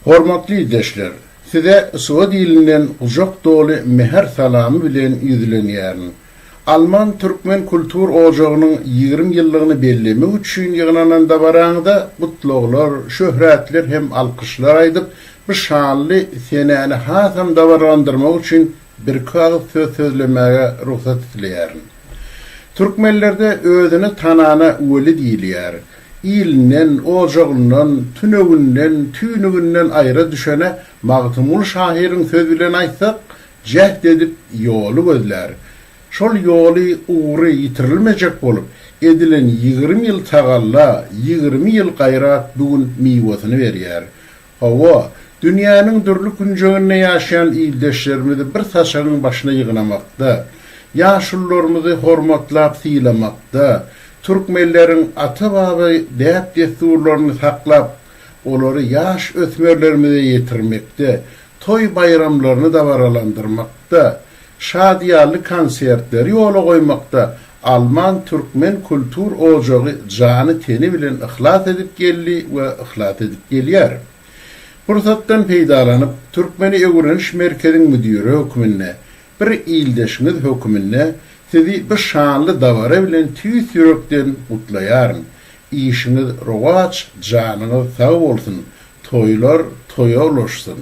Hormatly ildeşler! Size swed ilinden gujak doly mähir salamy bilen ýüzlenýärin. Alman türkmen kultur ojagynyň ýigrimi ýyllygyny bellemek üçin ýygnanan dabaraňyza gutlaglar, şöhratler hem alkyşlar aýdyp, bu şanly senäni hasam dabaralandyrmak üçin Birki agyz söz sözlemäge rugsat isleýärin. Türkmenlerde özüni tanana weli diýilýär. Ilinden, ojagyndan, tünewinden, tüýnüginden aýra düşene Magtymguly şahyryň söz bilen aýtsak, jäht edip ýoly gözlär. Şol ýoly, ugry ýitirilmejek bolup, edilen ýigrimi ýyl tagalla, ýigrimi ýyl gaýrat bu gün miwesini berýär. Hawa, dünýäniň dürli künjeginde ýaşaýan ildeşlerimizi bir saçagyň başyna ýygnamakda, ýaşulularymyzy hormatlap sylamakda, türkmenleriň ata-baba däp-dessurlaryny saklap, olary ýaş ösmerlerimize ýetirmekde, toý-baýramlaryny dabaralandyrmakda, Şadyýanly konsertleri ýola goýmakda Alman türkmen kultur ojagy jany-teni bilen yhlas edip geldi we yhlas edip gelýär. Pursatdan peýdalanyp, Türkmeni öwreniş merkeziň müdiri hökmünde, bir ildeşiňiz hökmünde Sizi bu şanly dabara bilen tüýs ýürekden gutlaýaryn. Işiňiz rowaç, janyňyz sag bolsun, toýlar toýa ulaşsyn!